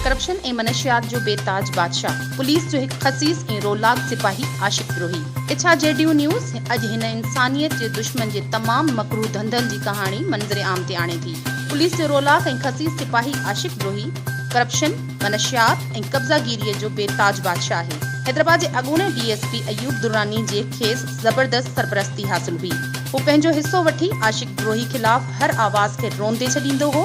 Corruption ۽ منشيات جو بي تاج بادشاهه، پوليس جو هڪ خسيس ۽ رولاڪ سپاهي، عاشق دروهي. ايڇا جي ڊيو نيوز اڄ هن انسانيت جي دشمن جي تمام مڪروه ڌنڌن جي ڪهاڻي منظر عام تي آڻي ٿي. پوليس جو رولاڪ ۽ خسيس سپاهي عاشق دروهي، ڪرپشن، منشيات ۽ قبضا گيريء جو بي تاج بادشاهه آهي. حيدرآباد جي اڳوڻي D S P Ayub Durrani جي کيس زبردست سرپرستي حاصل هئي. هو پنهنجو حصو وٺي عاشق دروهي خلاف هر آواز کي روندي ڇڏيندو هو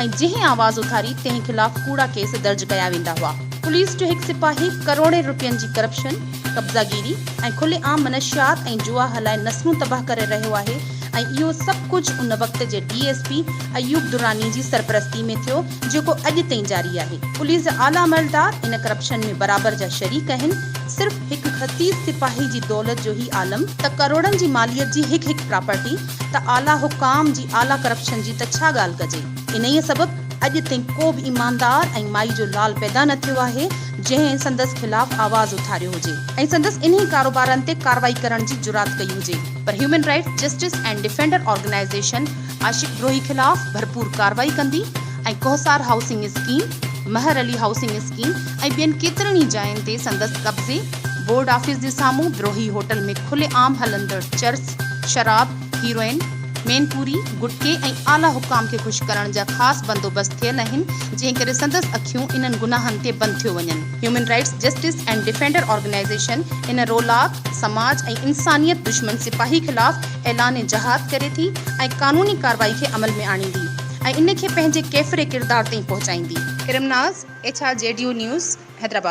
۽ جنهن آواز اٿاري تنهن خلاف ڪوڙا ڪيس درج ڪيا ويندا هئا. پوليس جو هڪ سپاهي ڪروڙين روپين جي ڪرپشن، قبضا گيري ۽ کلي عام منشيات ۽ جوا هلائي نسلون تباهه ڪري رهيو آهي ۽ اهو سڀ ڪجهه ان وقت جي D S P Ayub Durrani جي سرپرستي ۾ ٿيو جيڪو اڄ تائين جاري آهي. پوليس جا اعليٰ عملدار ان ڪرپشن ۾ برابر جا شريڪ آهن. صرف هڪ خسيس سپاهي جي دولت جو هي عالم ته ڪروڙن جي ماليت جي هڪ هڪ پراپرٽي ته اعليٰ حڪام جي اعليٰ ڪرپشن جي ته ڇا ڳالهه ڪجي. انهيء سبب اڄ تائين ڪو به ايماندار ۽ مائي جو لال پيدا نه ٿيو آهي جنهن سندس خلاف آواز اٿاريو هجي ۽ سندس انهي ڪاروبارن تي ڪارروائي ڪرڻ جي جرات ڪئي هجي. پر human rights justice and defender organisation Ashiq Darohi خلاف ڀرپور ڪارروائي ڪندي ۽ Kohsar housing scheme, Mehar Ali housing scheme ۽ ٻين ڪيترن ئي جاين تي سندس قبضي، بورڊ آفيس جي سامهون دروهي هوٽل ۾ کلي عام هلندڙ چرس، شراب، هيروئن، مين پوري، گٽڪي ۽ اعليٰ حڪام کي خوش ڪرڻ جا خاص بندوبست ٿيل آهن جنهن ڪري سندس اکيون انهن گناهن تي بند ٿيو وڃن. Human rights justice and defender organisation ان رولاڪ، سماج ۽ انسانيت دشمن سپاهي خلاف اعلان جهاد ڪري ٿي ۽ قانوني ڪارروائي کي عمل ۾ آڻيندي ۽ ان کي پنهنجي ڪيفري ڪردار تائين پهچائيندي. Karam Naz, H R G ڊيو نيوز، حيدرآباد.